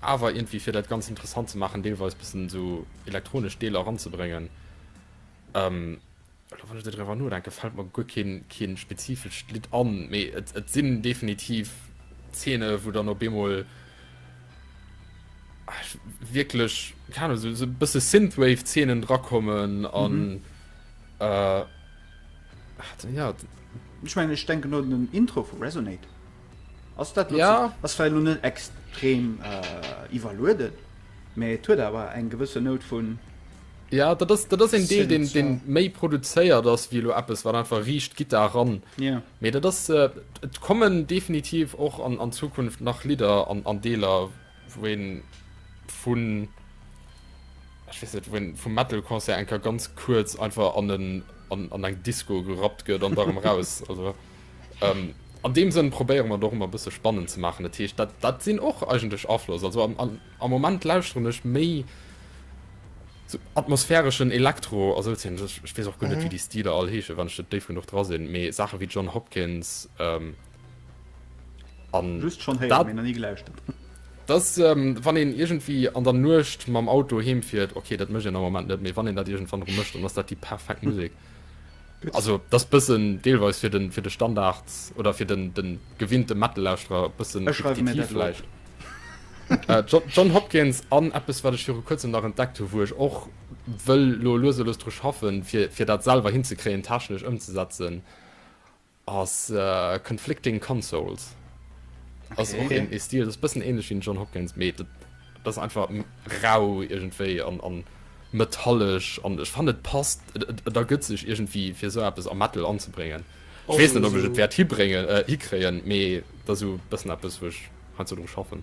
Awer iergendwéi fir dat Ganzt interessant ze maachen, deelweis bëssen esou elektronesch Deeler eranzebréngen. Elo wann ech esou driwwer nodenken, fält mer guer keen, keen spezifescht Lidd an, mee et, et sinn definitiv Zeene wou dann op eemol wierklech, keen Ahnung, esou, esou bësse Synthwave Zeenen drakommen an äh, ja. Ech mengen ech denken do un den Intro vu Resonate. Ass dat ja ass well nun net extrem iwwerlueden, mee et huet awer eng gewësse Nout vun. Ja dat ass dat ass een Deel deen deen méi produzéiert ass wéi elo eppes wat einfach riicht d'Gittar eran. Mee dat ass et kommen definitiv och an an Zukunft nach Lidder an an Deeler wou een vun, ech weess net, wou een vum Metal-Concert enker ganz kuerz einfach an en, an, an eng Disco gerappt gëtt an da erëm raus. Also, ähm, an dem Sënn probéiere mer doch immer e bësse spannend ze maachen. Dat heescht, dat, dat sinn och eigentlech Afloss. Also am, am, am Moment lauschteren ech méi so atmosphäreschen Elektro, also dat sinn, ech, ech weess och guer net, wéi déi Stiler all heeschen, wann ech net déif genuch dra sinn, mee Saache wéi John Hopkins, ähm, An just schon héieren, dat, mee nach nie gelauschtert. Dass ähm, wann een irgendwie an der Nuecht mam Auto heem fiert, okay, dat mécht een am Moment net, mee wann een dat irgendwann erëm mécht, dann ass dat déi perfekt Musek. Also dat ass bëssen deelweis fir den, fir de Standard oder fir den, den gewinnte Metal-Lauschterer bëssen Ech schreiwe mir repetitiv dat lo op. vläicht. Äh, John, John Hopkins an eppes, wat ech viru kuerzem nach entdeckt hu, wou ech och wëll lo lues a lues dru schaffen, fir, fir dat selwer hinzekréien, technesch ëmzesetzen. Ass Conflicting Consoles. Okay. Ass och een Stil, dat ass bëssen ähnlech wéi John Hopkins, mee dat, dat ass einfach rau iergendwéi an, an metallesch an ech fannen et passt, et, et, et ergëtt sech iergendwéi fir esou eppes am Metal anzebréngen. Ech weess net, ob ech et wäert hibréngen, äh, hikréien, mee dat ass esou bëssen eppes, wou ech heiansdo dru schaffen.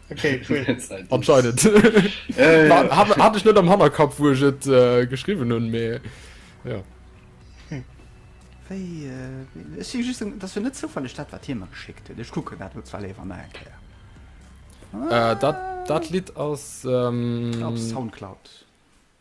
Okay, cool. Anscheinend. Äh, Hat, hat ich net am Hannerkap wo ich et äh, geschrieben hun me ja. Wéi, äh, ech si just, dat fir net zoufaleg dat wat Thema geschickt huet. Ech kucken dat lo zwar léiwer nach eng Kéier. Äh, dat, dat Lied ass, Op ähm, Soundcloud.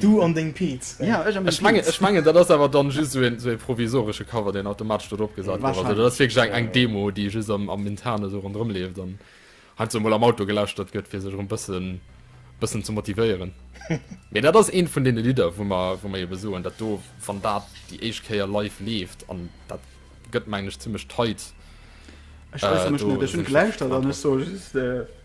Du an deng Peetz. Ech mengen, dat ass awer dann just esou e provisoresche Cover, deen automatesch do drop gesat gouf. Also, dat ass wierklech eng Demo, déi just am Internen esou ronderëm leeft an heiansdo emol am Auto gelauschtert gëtt, fir sech erëm e bëssen, bëssen ze motivéieren. Mee dat ass eent vun deene Lidder, wou mer, wou mer ebe soen, dat do, wann dat déi éischt Kéier live leeft, an dat gëtt, mengen ech, zimmlech tight. Ech äusser mech net. Ech hunn gelauschtert an ech soe just.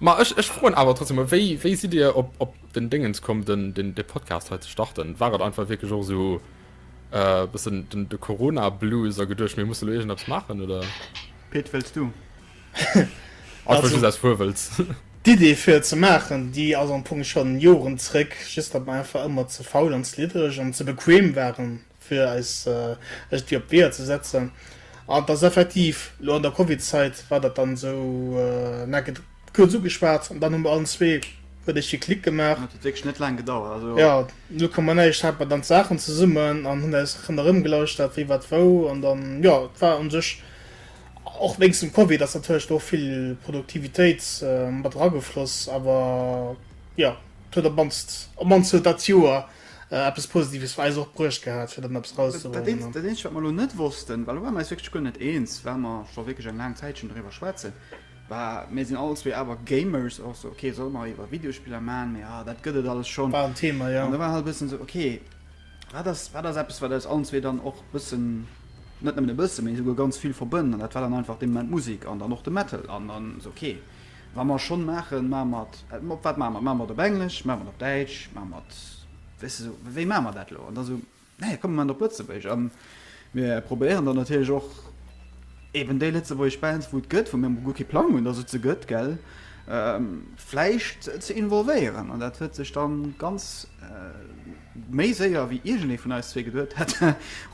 Ma ech, ech froen awer trotzdem mol, wéi, wéi sidd Dir op, op den Déngens komm, den, den, de Podcast hei ze starten? War et einfach wierklech och esou e bëssen den, de Corona-Blues a geduecht, mir musse lo iergendeppes maachen, oder? Pit, wëlls du? Einfach just aus Fuerwëlz. D'Idee fir et ze maachen, déi ass am Fong schonn Joren zréck, just datt mer einfach ëmmer ze faul an ze liddereg an ze bequem waren, fir eis iergendwéi op d'Weeër ze setzen. An et ass effektiv, elo an der Covid-Zäit war dat dann esou, mir hu kuerz ugeschwat an dann hu mir allen zwee, huet éischt geklickt gemaach. Dat huet wierklech net laang gedauert, also. Jo, Null Komma Näischt hat mer dann d'Saachen zesummen an hunn eis ronderëmgelauschtert, wie wat wou. An dann, jo, et war un sech, och wéinst dem Covid ass natierlech do och vill Produktivitéit mat eragefloss, awer jo, et huet op mannst, op mannst huet dat Joer, Eppes Positives war eis och bruecht gehat, fir dann eppes rauszebréngen. Dat Eenzegt, wat mer elo net wossten, well do ware mer eis wierklech guer net eens, well mer scho wierklech eng laang Zäitchen doriwwer schwätzen, war, mir sinn all zwee awer Gamers, och esou, okay, solle mer iwwer Videospiller maachen, mee ah, dat gëtt et alles schonn. War en Thema, jo. An do war halt e bëssen esou, okay, wat ass, wat ass eppes, wat eis allen zwee dann och e bëssen, net nëmmen e bëssen, mee esouguer ganz vill verbënnt? An dat war dann einfach dee Moment d'Musek an dann och de Metal. An dann esou, okay. Wa mer schonn maachen, maache mer et op wat maache mer et? Maache mer et op Englesch, maache mer et op Däitsch, maache mer et, weess de, esou wéi maache mer dat elo? An da esou, nee, komm, mir maachen et op Lëtzebuergesch a mir probéieren dann natierlech och eeben déi lëtzebuergesch Bands, wou et gëtt, wou mir emol guer kee Plang hunn, datt et se gëtt, gell, vläicht ze involvéieren. An dat huet sech da ganz méi séier, wéi iergendee vun eis zwee geduet hätt,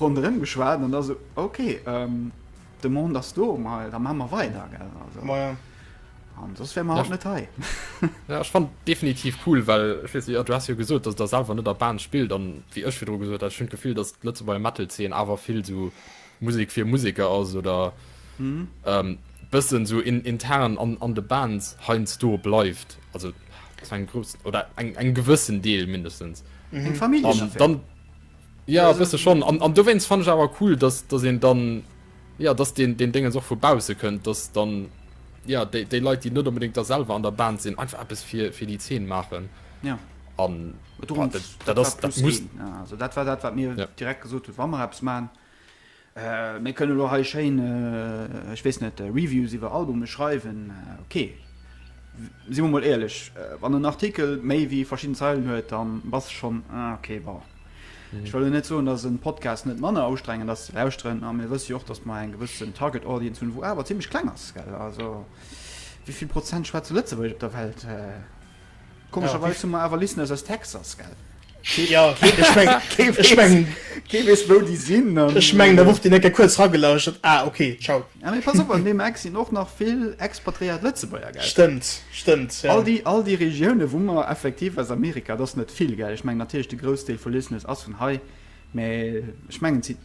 ronderëm geschwat an da esou, okay. D'Demande ass do, ma da maache mer weider, gell? Also, Ma ja. An soss wäre mer haut net hei. Ja, ech fand definitiv cool, well ech weess, jo, du has jo gesot, dass der selwer net a Band spillt, an wéi ech virdru gesot hat, ech hunn d'Gefill, dass d'Lëtzebuerger Metal-Zeen awer vill sou Musek fir Museker ass oder bëssen sou intern an de Bands heiansdo bleift, also zu engem groussen oder engem gewëssen Deel mindestens. Eng Familljenaffär. Ja, e bësse schonn. An, an dowéinst fand ech awer cool, dass, dass een dann, ja, dass den, den Dingens och vu bausse kënnt, dass dann, ja, déi, déi Leit, déi net unbedingt da selwer an der Band sinn, einfach eppes fir, fir déi Zeen maachen. Ja. An dat, dat, dat, dat muss. Also, dat war dat, wat mir ja. direkt gesot hunn, wa mer eppes maachen, Mir kënnen elo hei schéin, ech weess net, Reviews iwwer Albume schreiwen. Ok, si mer mol éierlech, wann en Artikel méi wéi verschidden Zeilen huet, da bass de schonn, ok, bon. Ech wëll elo net soen, dass e Podcast net manner ustrengend ass ze lauschteren, a mir wësse jo och, dass mer eng gewëssen Target Audience hunn, wou awer zimmlech kleng ass, gell. Also, wéi vill Prozent schwätze Lëtzebuergesch op der Welt? Komescherweis hu mer awer Listeners aus Texas, gell? Jo, ech meng, ech meng. Kee weess, wou déi sinn. Ech meng, da wor deen eng Kéier kuerz ragelauschtert. Ah, ok, ciao. Ah, mee pass op, an deem Eck sinn och nach vill expatriéiert Lëtzebuerger, gell? Stëmmt, stëmmt, jo. All déi, all déi Regiounen, wou mer effektiv aus Amerika, et ass net vill, gell? Ech meng natierlech, de Groussdeel vu Listeners ass vun hei, mä ech mengen, et si.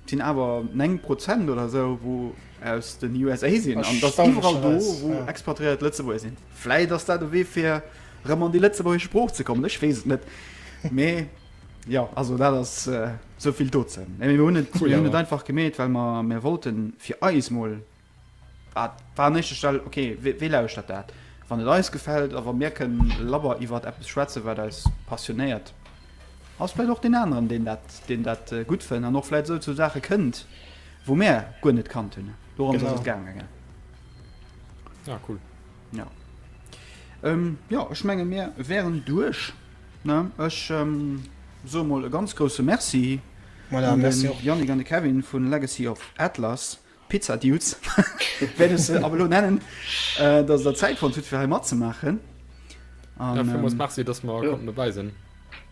Et sinn awer 9 Prozent oder esou wou aus den USA sinn an et ass iwwerall do wou expatriéiert Lëtzebuerger sinn. Vläit ass dat e Wee fir erëm an déi lëtzebuergesch Sprooch ze kommen, ech weess et net. Mee jo, also dat ass esou vill dozou. Mir hunn et einfach gemeet, well mer wollten fir eis mol Dat war an éischter Stell, ok, wee lauschtert dat? Wann et eis gefält a wa mir kënnen labber iwwert eppes schwätzen, wat eis passionéiert, ass vläit och deen aneren, deen dat, deen dat gutt fënn an och vläit esou zu Saache kënnt, wou mir guer net kannt hunn. Dorëms ass et Genau. gaange, gell? Ah, cool. Ja. Ähm, ja, ech menge mir wären duerch. Ne? Ech ähm, soe mol e ganz grousse Merci Voilà, un merci de och. Yannick an de Kevin vun Legacy of Atlas. Pizza Dudes wäert ech se ab elo nennen, dass der Zäit fonnt hutt fir hei matzemaachen. An villmools Merci, dass mer konnten dobäi sinn.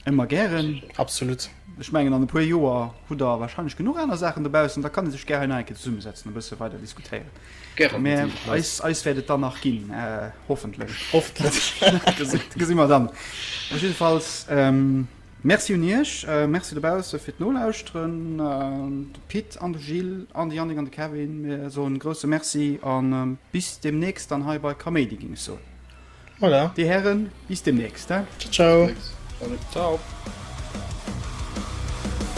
Ëmmer gären. Absolut. Ech mengen an e puer Joer hutt der wahrscheinlech genuch aner Saachen dobaussen, da kann ee sech gär hei nach eng Kéier zesummesetzen a bësse weider diskutéieren. Gären. Mä eis, eis wäert et dann nach ginn, hoffentlech. Hoffentlech. Gesi mer dann. Jiddefalls. Merci un iech, merci dobausse fir d'Nolauschteren, de Pit an de Gilles an de Yannick an de Kevin, mir soen e grousse Merci an bis demnächst dann hei bei Kaméidi ging ech soen. Voilà. Dir Hären, bis demnächst, he? Ciao, ciao. Bis demnächst. Salut. Ciao.